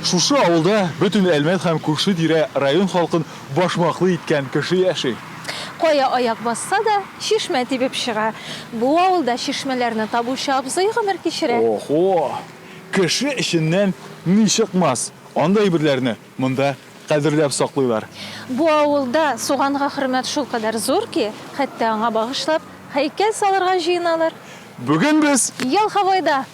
Шушы авылда бөтен Әлмәт һәм күрше тирә район халкын башмаклы иткән кеше яши. Кая аяк басса да, чишмә тибеп чыга. Бу авылда чишмәләрне табучы абзый гомер кичерә. Охо! Кеше эченнән ни чыкмас! Андый әйберләрне Монда кадерләп саклыйлар. Бу авылда суганга хөрмәт шулкадәр зур ки, хәтта аңа багышлап һәйкәл салырга җыеналар. Бүген без. Елховойда!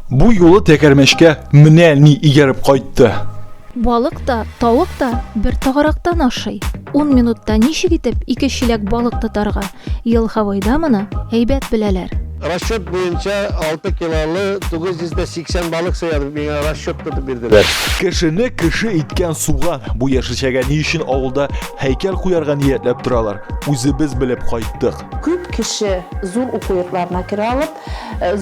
Бу юлы тәгәрмәчкә менә ни ияреп кайтты. Балык та, тавык та бер тагарактан ашый. Ун минутта ничек итеп ике чиләк балык тотарга? Ел Хавойда моны әйбәт беләләр. Расчет буенча, алты килолы 980 балык сыя, дип миңа расчет тотып бирделәр. Кешене кеше иткән суган. Бу яшелчәгә ни өчен авылда һәйкәл куярга ниятләп торалар, үзебез белеп кайттык. Күп кеше зур уку йортларына керә алып,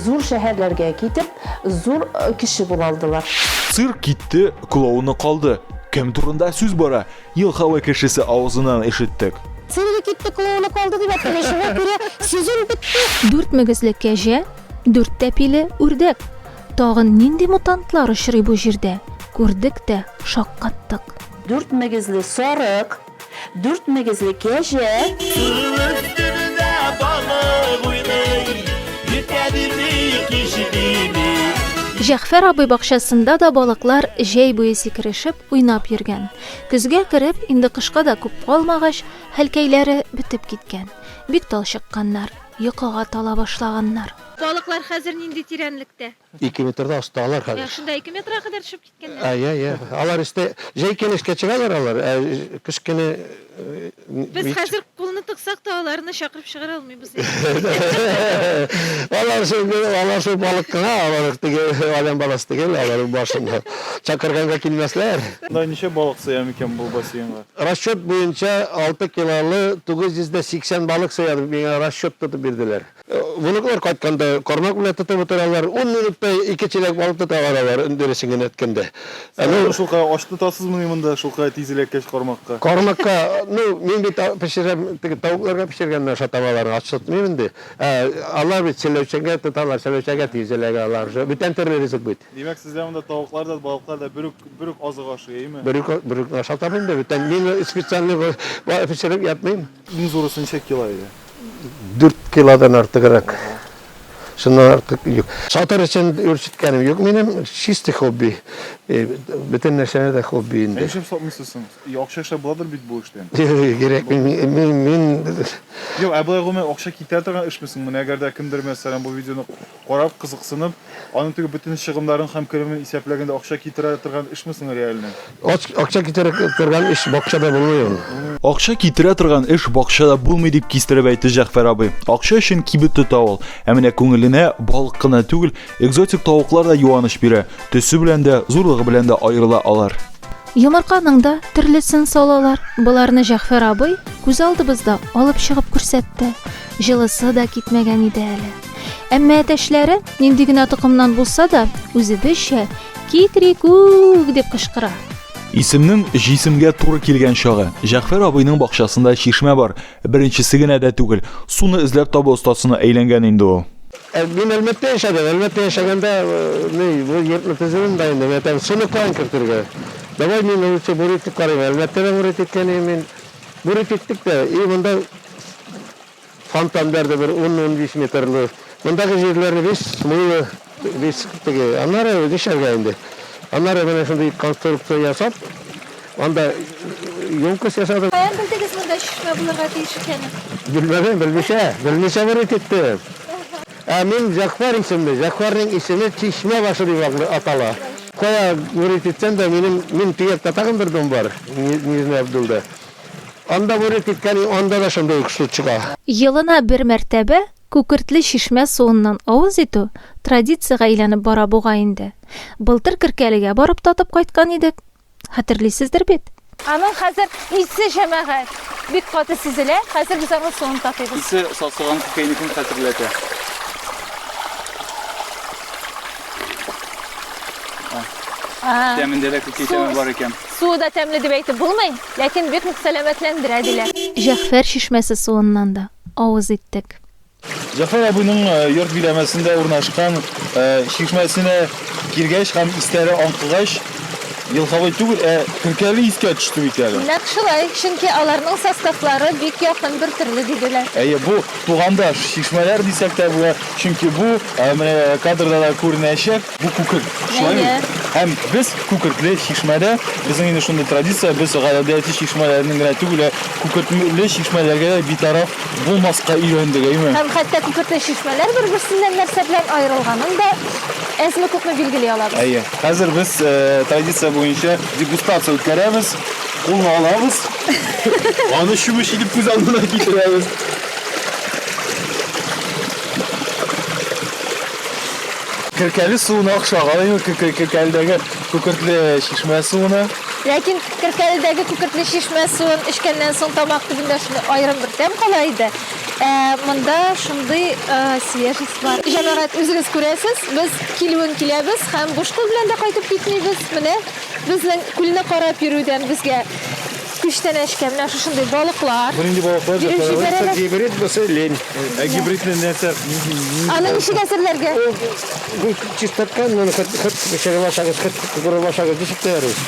зур шәһәрләргә китеп, зур кеше була алдылар. Цирк китте, клоуны калды. Кем турында сүз бара? Елкавый кешесе авызыннан ишеттек. Синеке китте, клоуны калды дип әйткән шуңа күрә сезон бетте. Дүрт мөгезле кәҗә, дүрт тәпиле үрдәк. Тагын нинди мутантлар очрый бу җирдә? Күрдек тә, шаккаттык. Дүрт мөгезле сарык, дүрт мөгезле кәҗә. Сулык төбендә балык уйный, иртә дими, кич дими. Җәгъфәр абый бакчасында да балыклар җәй буе сикерешеп, уйнап йөргән. Көзгә кереп, инде кышка да күп калмагач, хәлкәйләре бетеп киткән. Бик талчыкканнар, йокыга тала башлаганнар. Балыклар хәзер нинди тирәнлектә? Ике метрда осталар хәзер. Ә шунда ике метрга кадәр төшеп киткәннәр? Ә, я, я. Алар өстә җәй килешкә чыгалар алар, ә кыш көне Без хәзер кулны тыксак та аларны чакырып чыгара алмыйбыз. Алар шул алар шул балык кына, алар теге алям баласы түгел, алар башында. Чакырганга килмәсләр. Монда ничә балык сыя микән бу бассейнга? Расчет буенча 6 килолы 980 балык сыя дип миңа расчет тотып бирделәр. Внуклар кайтканда, кармак белән тотып утыралар, ун минутта ике чиләк балык тоталар алар, дөресен генә әйткәндә. Сез аны шулкадәр ач тотасызмыни монда, шулкадәр тиз эләккәч кармакка? Кармакка, ну, мин бит пешерәм, теге тавыкларга пешергәннән аша табалар, ач тотмыйм инде. Ә алар бит сәләүшәгә тоталар, сәләүшәгә тиз эләгә алар. Бүтән төрле ризык бит. Димәк, сездә монда тавыклар да, балыклар да бер үк, бер үк азык ашый, әйеме? Бер үк, бер үк ашатам инде, бүтән мин специальный пешереп ятмыйм. Иң зуры сынча кило иде. Дүрт килодан артыграк. Шуннан артык юк. Сатыр өчен үрчеткәнем юк минем. Чистый хобби. Бөтен нәрсәне дә хобби инде. Нишләп сатмыйсыз соң? Акча эшләп буладыр бит бу эштән. Кирәк мин. Юк, ә болай гомумән акча китерә торган эшме соң? Менә әгәр дә кемдер мәсәлән бу видеоны Карап, кызыксынып, аның теге бөтен чыгымнарын һәм керемен исәпләгәндә акча китерә торган эшме соң реальный? Акча китерә торган эш бакчада булмый ул. Акча китерә торган эш бакчада булмый, дип кистереп әйтте Җәгъфәр абый. Акча өчен кибет тота ул. Ә менә күңеленә балык кына түгел, экзотик тавыклар да юаныч бирә. Төсе белән дә, зурлыгы белән дә аерыла алар. Йомырканың да төрлесен салалар. Боларны Җәгъфәр абый күз алдыбызда алып чыгып күрсәтте. Җылысы да китмәгән иде әле. Әмма әтәчләре нинди генә токымнан булса да, үзебезчә кикрикүк дип кычкыра. Исемнең җисемгә туры килгән чагы. Җәгъфәр абыйның бакчасында чишмә бар. Беренчесе генә дә түгел. Суны эзләп табу остасына әйләнгән инде ул. Ә мин Әлмәттә яшәдем. Әлмәттә яшәгәндә, ни, бу йортны төзүен дә инде әтәм, суны каян кертергә? Давай мин лучше бурить итеп карыйм. Әлмәттә дә бурить иткән идем мин. Бурить иттек тә, и монда Фонтаннар да бер ун-унбиш метрлы. Мондагы җирләрне без мылы, без теге. Аннары нишләргә инде? Аннары менә шундый конструкция ясап, анда емкость ясадым. Каян белдегез монда чишмә булырга тиеш икәнен? Белмәдем, белмичә, белмичә бер ит иттем. Ә мин Җәгъфәр исемле, Җәгъфәрнең исеме чишмә башы дип атала. Кая бер ит итсәм дә, минем, мин төяк татагым бер дом бар, Нижний Абдулда. Анда бүре киткән, и анда да шундый ук су чыга. Елына бер мәртәбә Күкертле чишмә суыннан авыз итү традициягә әйләнеп бара бугай инде. Былтыр Керкәлегә барып татып кайткан идек. Хәтерлисездер бит? Аның хәзер исе, җәмәгать, бик каты сизелә. Хәзер без аның суын татыйбыз. Исе сасыган күкәйнекне хәтерләтә. Тәмендә дә күкәй тәме бар икән. Суы да тәмле дип әйтеп булмый, ләкин бик нык сәламәтләндерә, диләр. Җәгъфәр чишмәсе суыннан да авыз иттек. Җәгъфәр абыйның йорт биләмәсендә урнашкан чишмәсенә килгәч һәм исләре аңкыгач, елкавый түгел, ә көркәле искә төште бит әле. Нәкъ шулай, чөнки аларның составлары бик якын, бертөрле, диделәр. Әйе, бу тугандаш чишмәләр дисәк тә була, чөнки бу, менә кадрда да күренәчәк, Бу күкерт шулай бит. Һәм без күкертле чишмәдә, безнең инде шундый традиция, без гадәти чишмәләрнең генә түгел, күкертле чишмәләргә дә битараф булмаска өйрәндек, әйме? Һәм хәтта күкертле чишмәләр бер-берсеннән нәрсә белән аерылганын да әзме күпме билгели алабыз. Әйе. Хәзер без э, традиция буенча дегустация үткәрәбез. Кулны алабыз. Аны чүмеч итеп күз алдына китерәбез. Керкәле суына охшаган инде ул Керкәледәге күкертле чишмә суына. Ләкин Керкәледәге күкертле чишмә суын эчкәннән соң тамак төбендә шундый аерым бер тәм кала иде. Ә монда шундый свежесть бар. Җәмәгать, үзегез күрәсез, без килүен киләбез һәм буш кул белән дә кайтып китмибез. Менә безнең күлне карап йөрүдән безгә Күчтәнәчкә менә шушындый балыклар. Бу нинди балыклар? Биреп җибәрәләр. Гибрид булса лень. Ә гибрид белән нәрсә? Аны ничек әзерләргә? Бу чистартка, моны хат хат чыгылашагыз, хат курылашагыз ничек тәярбез?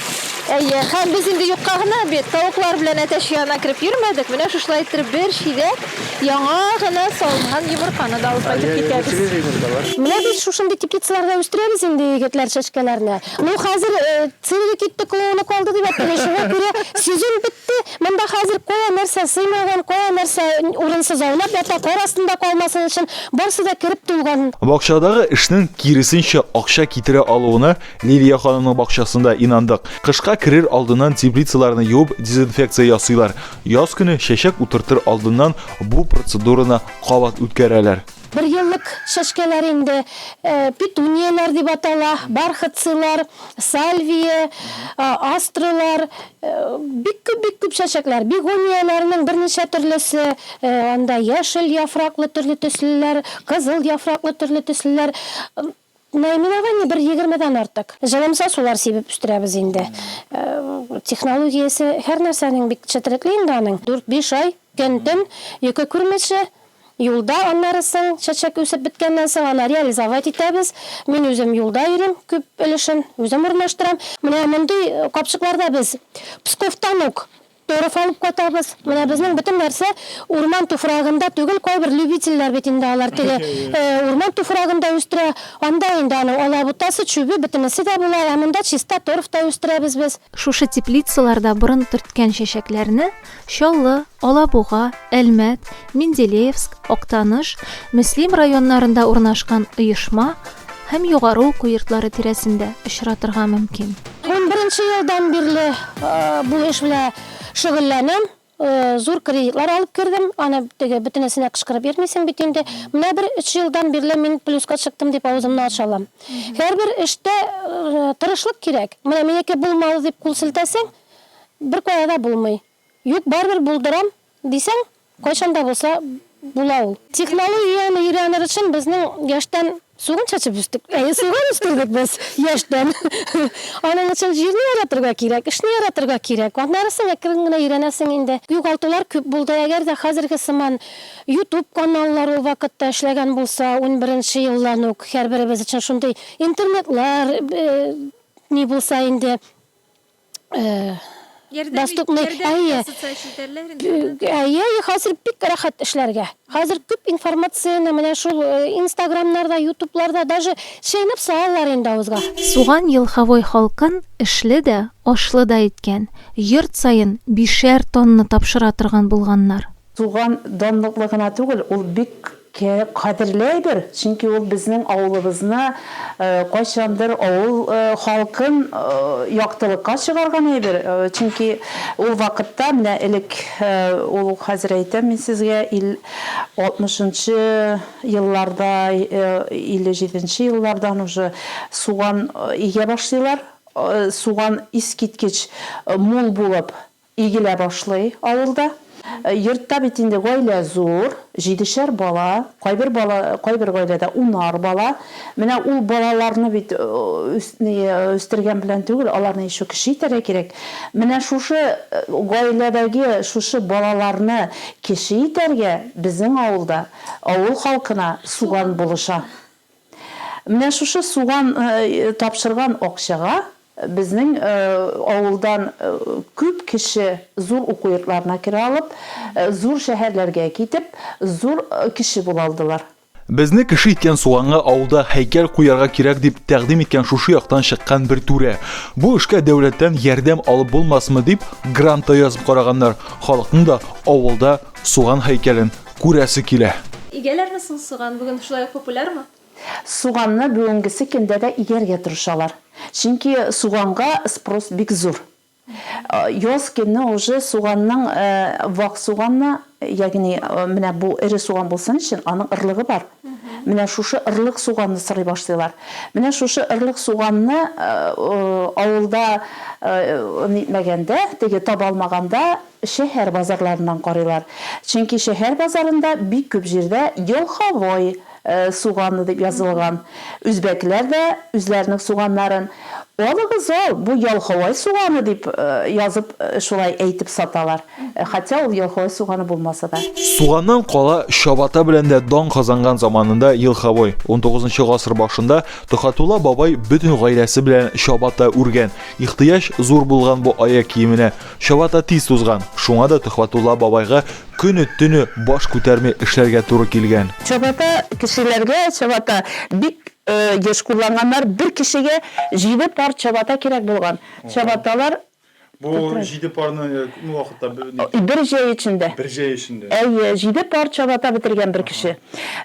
Әйе, һәм без инде юкка гына бит тавыклар белән әтәч янына кереп йөрмәдек. Менә шушылай иттереп бер чиләк яңа гына салынган йомырканы да алып кайтып китәбез. Менә без шушындый теплицаларда үстерәбез инде егетләр чәчкәләрне. Ну, хәзер Сыйлыгы китте, колыны калды дип әйтелә. Шуңа күрә сүзем бетте. Монда хәзер кая нәрсә сыймаган, кая нәрсә урынсыз аунап ята, кар астында калмасын өчен, барсы да кереп тулган. Бакчадагы эшнең киресенчә акча китерә алуына Лилия ханымның бакчасында инандык. Кышка керер алдыннан теплицаларны юып, дезинфекция ясыйлар. Яз көне чәчәк утыртыр алдыннан бу процедураны кабат үткәрәләр. Берьеллык чәчкәләр инде, петунияләр дип атала, бархатцыйлар, сальвия, астралар, бик күп, бик күп чәчәкләр. Бегонияләрнең берничә төрлесе, анда яшел яфраклы, төрле төслеләр, кызыл яфраклы, төрле төслеләр. Наймин ага, не бер егермедән артык. Җылымса сулар сибеп үстерәбез инде. Технологиясе һәр нәрсәнең бик четерекле инде аның. Дүрт-биш ай, көн-төн, йокы күрмичә, юлда, аннары соң, чәчәк үсеп беткәннән соң, аны реализовать итәбез. Мин үзем юлда йөрим, күп өлешен үзем урнаштырам. Менә мондый капчыкларда без Псковтан ук Торф алып кайтабыз. Менә безнең бөтен нәрсә урман туфрагында түгел, кайбер любительләр бит инде алар теге урман туфрагында үстерә. Анда инде аның алабутасы, чүбе, бөтенесе дә була, ә монда чиста торф та үстерәбез без. Шушы теплицаларда борын төрткән чәчәкләрне Чаллы, Алабуга, Әлмәт, Менделеевск, Актаныш, Мөслим районнарында урнашкан оешма һәм югары уку йортлары тирәсендә очратырга мөмкин. Унберенче елдан бирле бу эш белән шөгыльләнәм. Зур кредитлар алып кердем. Аны теге бөтенесенә кычкырып йөрмисең бит инде. Менә бер өч елдан бирле мин плюска чыктым дип авызымны ача алам. Һәрбер эштә тырышлык кирәк. Менә минеке булмады дип кул селтәсәң, беркая да булмый. Юк, барыбер булдырам. Дисәң, кайчан да булса була ул. Технологияне өйрәнер өчен безнең яшьтән суган чәчеп үстек. Әйе, суган үстердек без яшьтән. Аның өчен җирне яратырга кирәк, эшне яратырга кирәк. Аннары соң әкрен генә өйрәнәсең инде. Югалтулар күп булды. Әгәр дә хәзерге сыман Ютуб каналлар ул вакытта эшләгән булса, унберенче елдан ук һәрберебез өчен шундый интернетлар ни булса инде, Доступный. Әйе. Әйе, хәзер бик рәхәт эшләргә. Хәзер күп информацияне менә шул Инстаграмнарда, Ютубларда даже шәйнәп салалар инде авызга. Суган Елховой халкын эшле дә, ашлы да иткән, йорт саен бишәр тонна тапшыра торган булганнар. Туган данлыклы гына түгел, ул бик кадерле әйбер, чөнки ул безнең авылыбызны, кайчандыр авыл халкын яктылыкка чыгарган әйбер, чөнки ул вакытта, менә элек, ул хәзер әйтәм мин сезгә, ил алтмышынчы елларда, илле җиденче еллардан уже суган игә башлыйлар, суган искиткеч мул булып, Игелә башлый авылда. Йортта бит инде гаилә зур, җидешәр бала, кайбер бала, кайбер гаиләдә унар бала. Менә ул балаларны бит үстергән белән түгел, аларны ещё кече итәргә кирәк. Менә шушы гаиләдәге шушы балаларны кече итәргә безнең авылда авыл халкына суган булыша. Менә шушы суган тапшырган акчага безнең авылдан күп кеше зур уку йортларына керә алып, зур шәһәрләргә китеп, зур кеше була алдылар. Безне кеше иткән суганга авылда һәйкәл куярга кирәк, дип тәкъдим иткән шушы яктан чыккан бер түрә. Бу эшкә дәүләттән ярдәм алып булмасмы дип, грант та язып караганнар, халыкның да авылда суган һәйкәлен Күрәсе килә. Игәләрме соң суган? Бүген шулай ук популярмы? Суганны бүгенгесе көндә дә игәргә тырышалар. Чөнки суганга спрос бик зур. Яз көне уже суганның вак суганны, ягъни менә бу эре суган булсын өчен, аның ырлыгы бар. Менә шушы ырлык суганны сорый башлыйлар. Менә шушы ырлык суганны авылда нитмәгәндә, теге таба алмаганда, Шәһәр базарларыннан карыйлар. Чөнки шәһәр базарында бик күп җирдә елховой суганы дип язылган. Үзбәкләр дә үзләренең суганнарын, Алыгыз ал, бу ялховой суганы дип язып, шулай әйтеп саталар. Хотя ул елховой суганы булмаса да. Суганнан кала, чабата белән дә дан казанган заманында елховой. Унтугызынчы гасыр башында Төхәтулла бабай бөтен гаиләсе белән чабата үргән. Ихтыяҗ зур булган бу аяк киеменә. Чабата тиз тузган, шуңа да Төхвәтулла бабайга көне-төне баш күтәрми эшләргә туры килгән. Чабата кешеләргә чабата бик еш кулланганнар. Бер кешегә җиде пар чабата кирәк булган. Чабаталар. Бу җиде парны күпме вакытта бетергән? Бер җәй эчендә. Бер җәй эчендә. Әйе, җиде пар чабата бетергән бер кеше.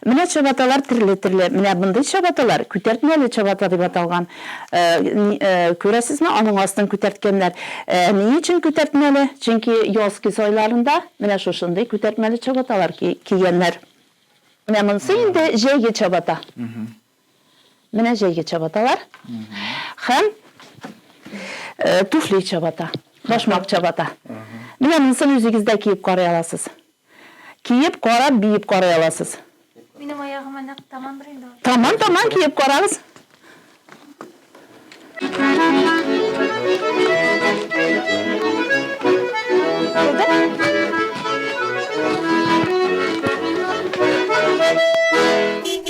Менә чабаталар төрле-төрле. Менә мондый чабаталар күтәртмәле чабата дип аталган. Күрәсезме, аның астын күтәрткәннәр. Ни өчен күтәртмәле? Чөнки яз-көз айларында менә шушындый күтәртмәле чабаталар кигәннәр. Менә монысы инде җәйге чабата. Менә җәйге чабаталар. Һәм туфли чабата, башмак чабата. Менә монысын үзегез дә киеп карый аласыз. Киеп карап биеп карый аласыз. Минем аягыма нәкъ тамандыр инде ул. Таман таман киеп карагыз.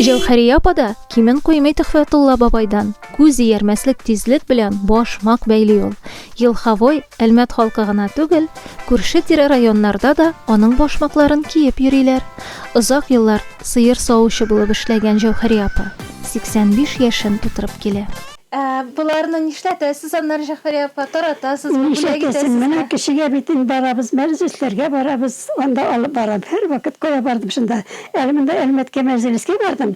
Җәүһәрия апа да кимен куймый Төхфәтулла бабайдан. Күз иярмәслек тизлек белән башмак бәйли ул. Елховой Әлмәт халкы гына түгел, күрше-тирә районнарда да аның башмакларын киеп йөриләр. Озак еллар сыер савучы булып эшләгән Җәүһәри апа 85 яшен тутырып килә. Ә боларны нишләтәсез, аннары, Җәгъфәри апа, таратасызмы, бүләк итәсезме? Менә кешегә бит инде барабыз, мәҗлесләргә барабыз, анда алып барам, һәрвакыт кая бардым шунда. Әле монда Әлмәткә мәҗлескә бардым.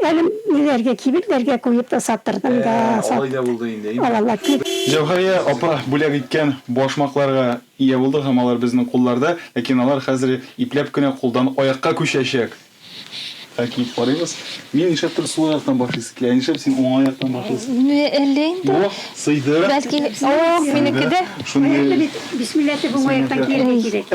Әле ниләргә, кибетләргә куеп та саттырдым да. Ә, алай да булды инде, әйеме? Алалар күп. Җәүһәрия апа бүләк иткән башмакларга ия булдык һәм алар безнең кулларда, ләкин алар хәзер ипләп кенә кулдан аякка күчәчәк. Ә киеп карыйбыз. Мин нишләптер сул аяктан башлыйсы килә. Ә нишләп син уң аяктан башлыйсы? Менә әллә инде. Бу сыйды. Бәлки, ох, минеке дә. Сыйды. Шундый. Бисмилла дип уң аяктан кияргә кирәк.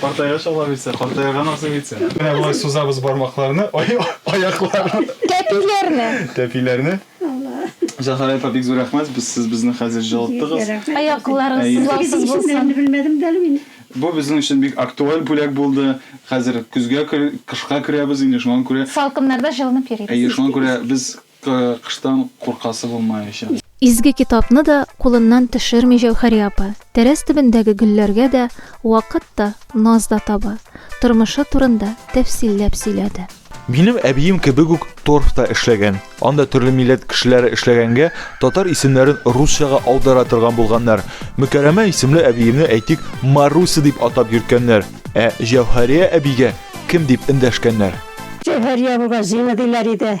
Картайгач ала бит син, картайган абзый бит син. Менә болай сузабыз бармакларны, аякларны. Тәпиләрне. Тәпиләрне. Зәһрә апа, бик зур рәхмәт, сез безне хәзер җылыттыгыз. Аякларыгыз сызлаусыз булсын. Бу безнең өчен бик актуаль бүләк булды. Хәзер көзгә, кышка керәбез инде, шуңа күрә. Салкыннарда җылынып йөрибез. Әйе, шуңа күрә без. Кыштан куркасы булмаячак. Изге китапны да кулыннан төшерми Җәүһәри апа. Тәрәз төбендәге гөлләргә дә вакыт та, наз да таба. Тормышы турында тәфсилләп сөйләде. Минем әбием кебек үк торфта эшләгән. Анда төрле милләт кешеләре эшләгәнгә, татар исемнәрен русчага аудара торган булганнар. Мөкәрәмә исемле әбиемне, әйтик, Маруся дип атап йөрткәннәр. Ә Җәүһәрия әбигә кем дип эндәшкәннәр? Җәүһәрия абыйга Зина диләр иде.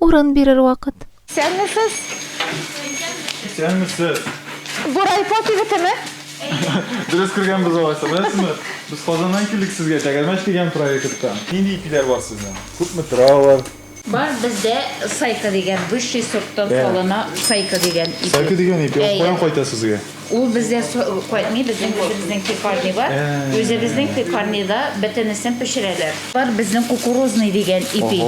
Урын бирер вакыт. Исәнмесез! Исәнмесез! Бу райпо кибетеме? Дөрес кергәнбез алайса. Беләсезме, без Казаннан килдек сезгә, Тәгәрмәч дигән проекттан. Нинди ипиләр бар сезнең? Күпме тора алар? Бар бездә сайка дигән, высший сорттан салына сайка дигән ипи. Сайка дигән ипи, ул каян кайта сезгә? Ул бездә кайтмый, безнең үзебезнең пекарня бар. Үзебезнең пекарняда бөтенесен пешерәләр. Бар безнең кукурузный дигән ипи.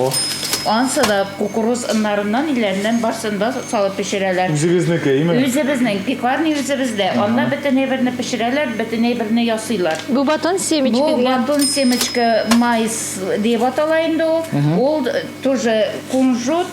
Ансы да кукуруз оннарыннан, иләреннән барсын да салып пешерәләр. Үзегезнеке, име? Үзебезнең, пекарня үзебездә. Анда бөтен әйберне пешерәләр, бөтен әйберне ясыйлар. Бу батон семечка дигән. Бу батон семечка майс диеп атала инде ул. Ул тоже кунжут,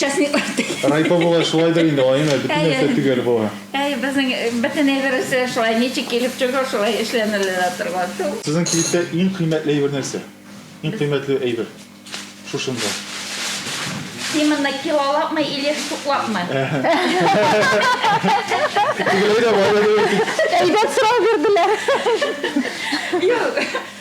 Часниклар тегә. Райпо була шулайдыр инде, Айна, бөтен Әйе. нәрсә төгәл була. Әй, безнең э, бөтен әйбересе шулай, ничек килеп чыга, шулай эшләнелә торган. Ту. Сезнең кибеттә иң кыйммәтле әйбер нәрсә? Иң кыйммәтле әйбер шушында. Именно килолапмы или штуклапмы? Тегеләй дә, болай да дөрес. Әйбәт сорау бирделәр. Юк.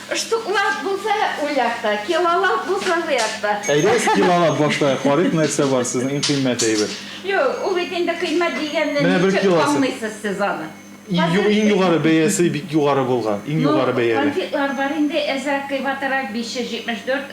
Штуклап булса ул якта, килолап булса бу якта. Әйдәгез килолап башлаек, карыйк нәрсә бар сезнең иң кыйммәт әйбер. Юк, ул бит инде кыйммәт дигәнне ничек аңлыйсыз сез аны? Иң югары бәясе бик югары булган, иң югары бәяле. Ну, конфетлар бар инде, әзрәк кыйбатрак, 574.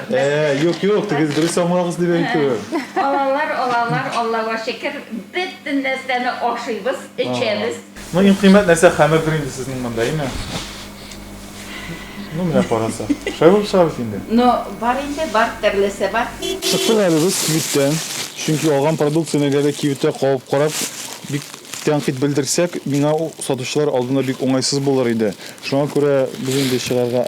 Э, юк, юк, тегез дөрес аңлагыз дип әйтүем. Алалар, алалар, Аллага шөкер, бөтен нәрсәне ашыйбыз, эчәбез. Ну, иң кыйммәт нәрсә хәмердер инде сезнең монда, име? Ну, менә караса. Шулай булып чыга бит инде. Ну, бар инде, бар төрлесе бар. Чыктык әле без кибеттән. Чөнки алган продукцияне әгәр дә кибеттә кабып карап, бик тәнкыйть белдерсәк, миңа сатучылар алдында бик уңайсыз булыр иде. Шуңа күрә без инде чыгарга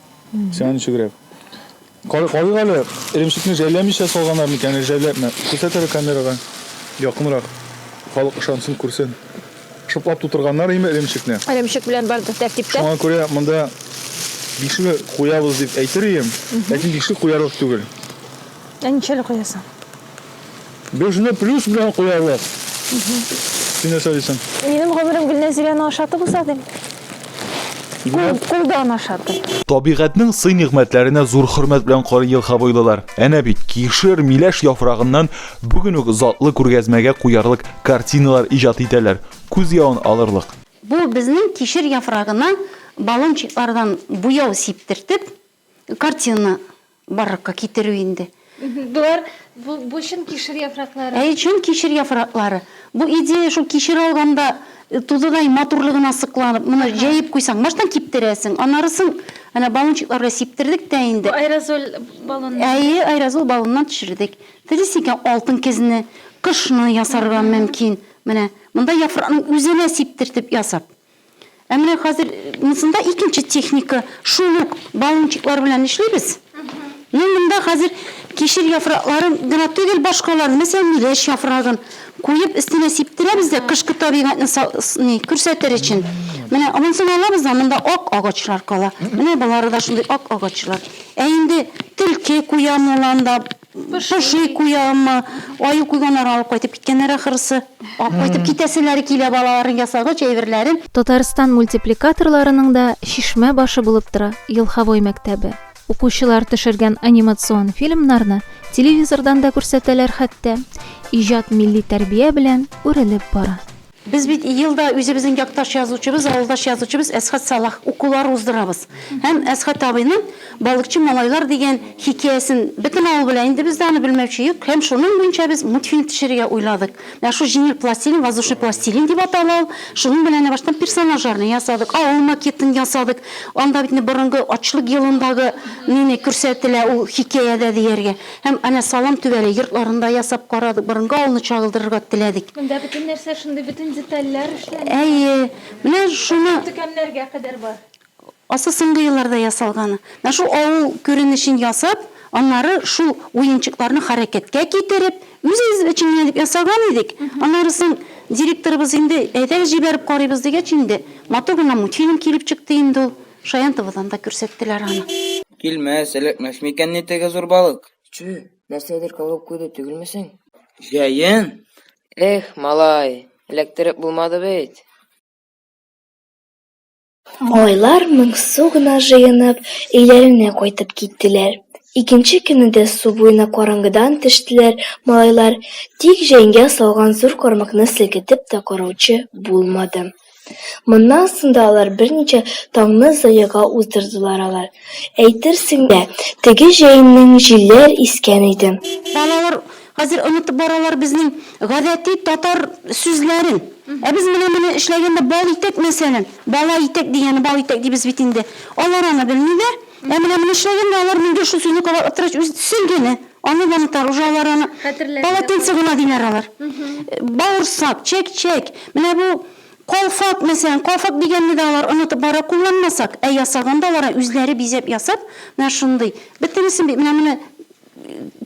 Сиңа ничегрәк? Карыйк әле, эремчекне жәлләмичә салганнар микән, әллә жәлләпме? Күрсәт әле камерага. Якынрак. Халык ышансын, күрсен. Шыплап тутырганнар име эремчекне? Эремчек белән бардыр тәртиптә. Шуңа күрә монда бишек куябыз дип әйтер идем, ләкин бишек куярлык түгел. Ә ничәле куясың? Безне плюс белән куялар. Син нәрсә дисең? Минем гомерем Гөлнәзирәне ашатып уза дим. Кул, кулдан ашатып. Табигатьнең сый-нигъмәтләренә зур хөрмәт белән карый елхабойлылар. Әнә бит, кишер, миләш яфрагыннан бүген үк затлы күргәзмәгә куярлык картиналар иҗат итәләр, күз явын алырлык. Бу безнең кишер яфрагына баллончиклардан буяу сиптертеп, Картина барлыкка китерү инде. Болар бу чын кишер яфраклары. Әйе, чын кишер яфраклары. Бу идея шул кишер алганда тузыдай матурлыгына сокланып, моны җәеп куйсаң, баштан киптерәсең, аннары соң әнә баллончиклар белән сиптердек тә инде. Бу аэрозоль баллоннан. Әйе, аэрозоль баллоннан төшердек. Телисең икән, алтын кезне, кышны ясарга мөмкин. Менә монда яфракның үзенә сиптертеп ясап. Ә менә хәзер мынсында икенче техника, шул ук баллончиклар белән эшлибез. Ну, монда хәзер кишер яфракларын гына түгел, башкаларны, мәсәлән, миләш яфрагын куеп, өстенә сиптерәбез дә, кышкы табигатьне ни, күрсәтер өчен. Менә монысын алабыз да, монда ак агачлар кала. Менә болары да шундый ак агачлар. Ә инде төлке куян уланда, Поши куямы? Аю куйганнарын алып кайтып киткәннәр ахрысы. Алып кайтып китәселәре килә балаларның ясагыч әйберләрен. Татарстан мультипликаторларының да чишмә башы булып тора Елховой мәктәбе. Укучылар төшергән анимацион фильмнарны телевизордан да күрсәтәләр хәтта. Иҗат милли тәрбия белән үрелеп бара. Без бит ел да үзебезнең якташ язучыбыз, авылдаш язучыбыз Әсхәт Салах укулары уздырабыз. Һәм Әсхәт абыйның Балыкчы малайлар дигән хикәясен бөтен авыл белә, инде бездә аны белмәүче юк. Һәм шуның буенча без мультфильм төшерергә уйладык. Менә шул җиңел пластилин, воздушный пластилин дип атала ул. Шуның белән әнә башта персонажларны ясадык, авыл макетын ясадык. Анда бит инде борынгы ачлык елындагы нене күрсәтелә ул хикәядә дияргә. Һәм әнә салам түбәле йортларын да ясап карадык, борынгы авылны чагылдырырга теләдек. Монда бөтен нәрсә шундый, бөтен детальләр эшләнгән. Әйе, менә шуны. Төкәннәргә кадәр бар. Асы соңгы елларда ясалган. Менә шул авыл күренешен ясап, аннары шул уенчыкларны хәрәкәткә китереп, үзебез өчен генә дип ясаган идек. Аннары соң директорыбыз инде, әйдәгез җибәреп карыйбыз, дигәч инде, матур гына мультфильм килеп чыкты инде ул. Шаянтовадан да күрсәттеләр аны. Килмәс, эләкмәс микән ни теге зур балык? Чү, нәрсәдер кагып куйды түгелмесең? Җәен? Эх, малай, эләктереп булмады бит. Малайлар моңсу гына җыенып, өйләренә кайтып киттеләр. Икенче көнне дә су буена караңгыдан төштеләр малайлар, тик җәенгә салган зур кармакны селкетеп тә караучы булмады. Моннан соң да алар берничә таңны зыяга уздырдылар алар. Әйтерсең лә, теге җәеннең җилләр искән иде. Балалар хәзер онытып баралар безнең гадәти татар сүзләрен. Ә без менә моны эшләгәндә бал итәк, мәсәлән. Бала итәк дигәне бал итәк дибез бит инде. Алар аны белмиләр. Ә менә моны эшләгәндә алар миндә шул сүзне кабатлап тора, чөнки, сөлгене. Аны ванитар уже алар аны полотенце гына диләр алар. Бавырсак, чәк-чәк. Менә бу колфак мәсәлән, колфак дигәнне дә алар онытып бара кулланмасак, ә ясаганда алар үзләре бизәп ясап, менә шундый. Бөтенесен бит менә моны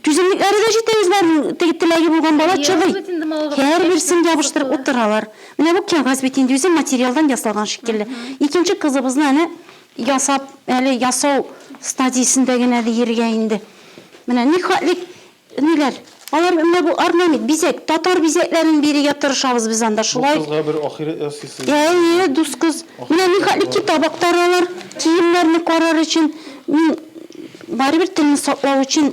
түземлекләре дә җитә үзләренең теге теләге булган бала чыдый. Һәрберсен ябыштырып утыралар. Менә бу кәгазь бит инде үзе материалдан ясалган шикелле. Икенче кызыбызны әнә Ясап, әле ясау стадиясендә генә диергә инде. Менә нихәтле ниләр. Алар менә бу орнамент, бизәк, татар бизәкләрен бирергә тырышабыз без анда шулай. Бу кызга бер ахирәт ясыйсы. Әйе, дус кыз. Менә нихәтле китаптар алар, киемнәрне карар өчен. Мин барыбер телне саклау өчен.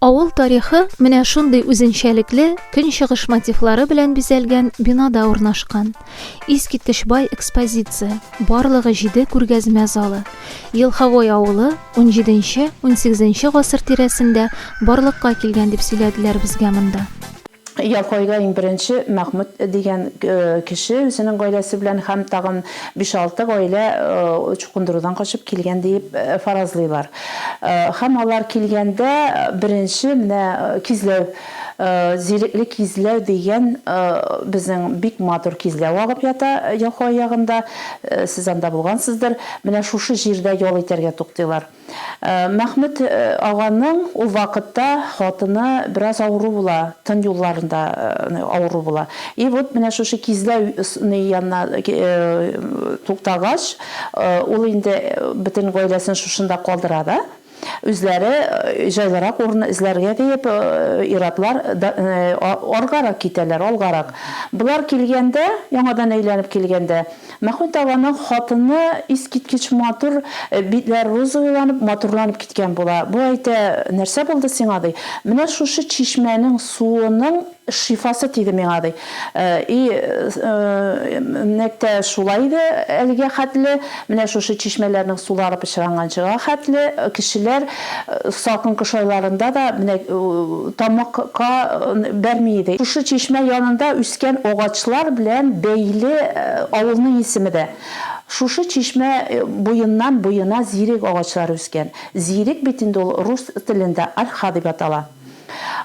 Авыл тарихы менә шундый үзенчәлекле көнчыгыш мотивлары белән бизәлгән бинада урнашкан. Искиткеч бай экспозиция, барлыгы җиде күргәзмә залы. Елховой авылы унҗиденче-унсигезенче гасыр тирәсендә барлыкка килгән дип сөйләделәр безгә монда. Якайда иң беренче Мәхмүт дигән кеше үзенең гаиләсе белән һәм тагын биш-алты гаилә чукындырудан качып килгән диеп фаразлыйлар. Һәм алар килгәндә беренче менә кизләү, зирекле кизләү дигән безнең бик матур кизләү агып ята Якай ягында, сез анда булгансыздыр, менә шушы җирдә ял итәргә туктыйлар. Мәхмүт аганың ул вакытта хатыны бераз авыру була, тын юлларында авыру була. И вот менә шушы кизлә ны янына туктагач, ул инде бөтен гаиләсен шушында калдыра да, үзләре җайлырак урын эзләргә диеп, ир-атлар аргарак китәләр, алгарак. Болар килгәндә, яңадан әйләнеп килгәндә, Мәхмүт аганың хатыны искиткеч матур, битләре розовыйланып, матурланып киткән була. Бу әйтә, Нәрсә булды сиңа, ди. Менә шушы чишмәнең суының шифасы тиде миңа, ди. И, нәкъ тә шулай иде әлегә хәтле. Менә шушы чишмәләрнең сулары пычранганчыга хәтле кешеләр Салкын кыш айларында да менә тамакка бәрми иде. Шушы чишмә янында үскән агачлар белән бәйле авылның исеме дә. Шушы чишмә буеннан буена зирек агачлар үскән. Зирек бит инде ул рус телендә ольха дип атала.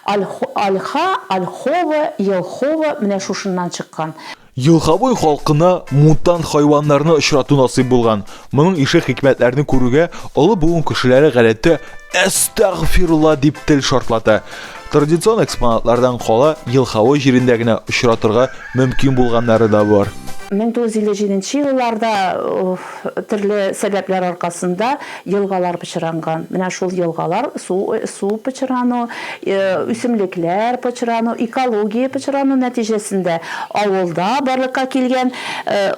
Ольха, ольхова, елхова менә шушыннан чыккан. Елгабуй халкына мутант хайваннарны очрату насыйп булган. Моның ише хикмәтләрне күрүгә олы буын кешеләре гадәттә әстәгъфирулла дип тел шартлата. Традицион экспонатлардан кала Елгабуй җирендә генә очратырга мөмкин булганнары да бар. 1957 елларда Төрле сәбәпләр аркасында елгалар пычранган. Менә шул елгалар, су су пычрану, үсемлекләр пычрану, экология пычрану нәтиҗәсендә авылда барлыкка килгән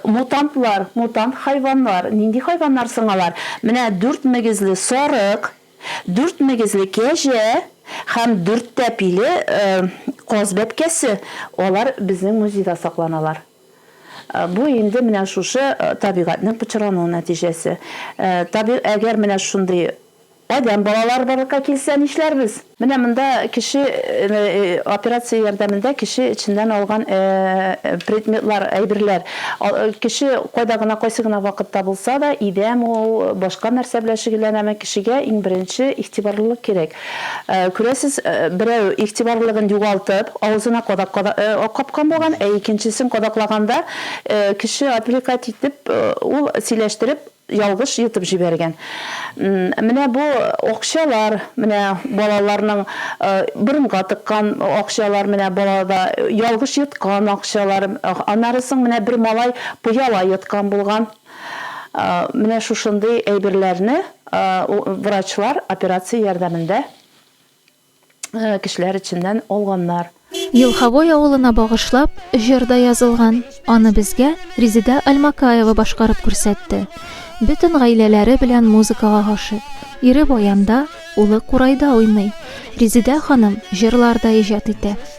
мутантлар, мутант хайваннар. Нинди хайваннар соң алар? Менә дүрт мөгезле сарык, дүрт мөгезле кәҗә һәм дүрт тәпиле каз бәбкәсе. Алар безнең музейда сакланалар. Бу инде менә шушы табигатьнең пычрану нәтиҗәсе. Табигать, әгәр менә шундый адәм балалары барлыкка килсә, нишләрбез? Менә монда кеше операция ярдәмендә кеше эченнән алган предметлар, әйберләр. Кеше кайда гына, кайсы гына вакытта булса да, идәме ул, башка нәрсә белән шөгыльләнәме, кешегә иң беренче игътибарлылык кирәк. Күрәсез, берәү игътибарлылыгын югалтып, авызына кадак капкан булган, ә икенчесен кадаклаганда, кеше отвлекать итеп, ул сөйләштереп, ялгыш йотып җибәргән. Менә бу акчалар, менә балаларның борынга тыккан акчалар, менә балада ялгыш йоткан акчалар, аннары соң менә бер малай пыяла йоткан булган. Менә шушындый әйберләрне врачлар операция ярдәмендә кешеләр эченнән алганнар. Елховой авылына багышлап, җыр да язылган. Аны безгә Резеда Альмакаева башкарып күрсәтте. Бөтен гаиләләре белән музыкага гашыйк. Ире баянда, улы курайда уйный. Резеда ханым җырлар да иҗат итә.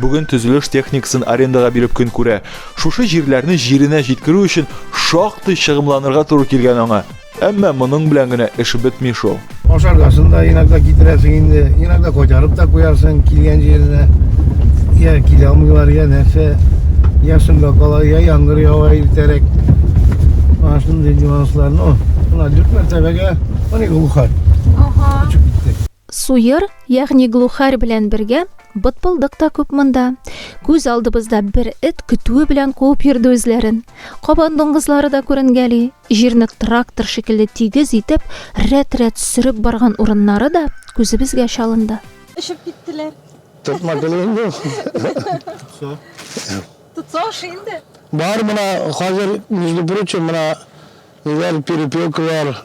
Бүген төзелеш техникасын арендага биреп көн күрә. Шушы җирләрне җиренә җиткерү өчен шактый чыгымланырга туры килгән аңа. Әмма моның белән генә эш бетми шул. Ашаргасын да иногда китерәсең инде, иногда кайтарып та куярсың килгән җиренә. Я килә алмыйлар, я нәрсә, я шунда кала, я яңгыр ява иртәрәк. Ана шундый нюанслар. Ну, мына дүрт мәртәбәгә, аны глухарь. Ага. Очып китте. Суер, ягъни глухарь белән бергә бытбылдык та күп монда. Күз алдыбызда бер эт көтүе белән куып йөрде үзләрен. Кабан дуңгызлары да күренгәли. Җирне трактор шикелле тигез итеп, рәт-рәт сөреп барган урыннары да күзебезгә чалынды. Очып киттеләр. Тотма гел инде ул. Тотса. Тотса ошый инде. Бар, менә хәзер, между прочим, менә ниләр, перепелкалар.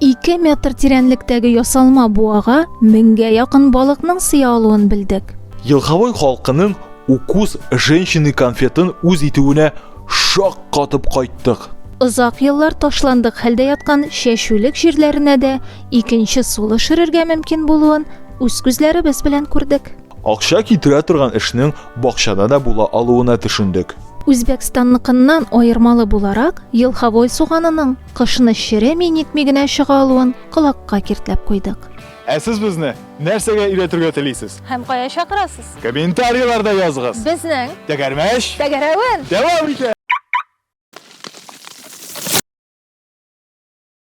2 метр тирәнлектәге ясалма буага меңгә якын балыкның сыя алуын белдек. Елхавой халкының укус женщины конфетын үз итүенә шак катып кайттык. Озак еллар ташландык хәлдә яткан чәчүлек җирләренә дә икенче сулы шөрергә мөмкин булуын үз күзләребез белән күрдек. Акча китерә торган эшнең бакчада да була алуына төшендек. Үзбәкстанныкыннан аермалы буларак, елхавой суганының Кышны череми-нитми генә чыга алуын колакка киртләп куйдык. Ә сез безне нәрсәгә өйрәтергә телисез? Һәм кая чакырасыз? Комментарийларда языгыз! Безнең! Тәгәрмәч! Тәгәрәвен! Дәвам итә!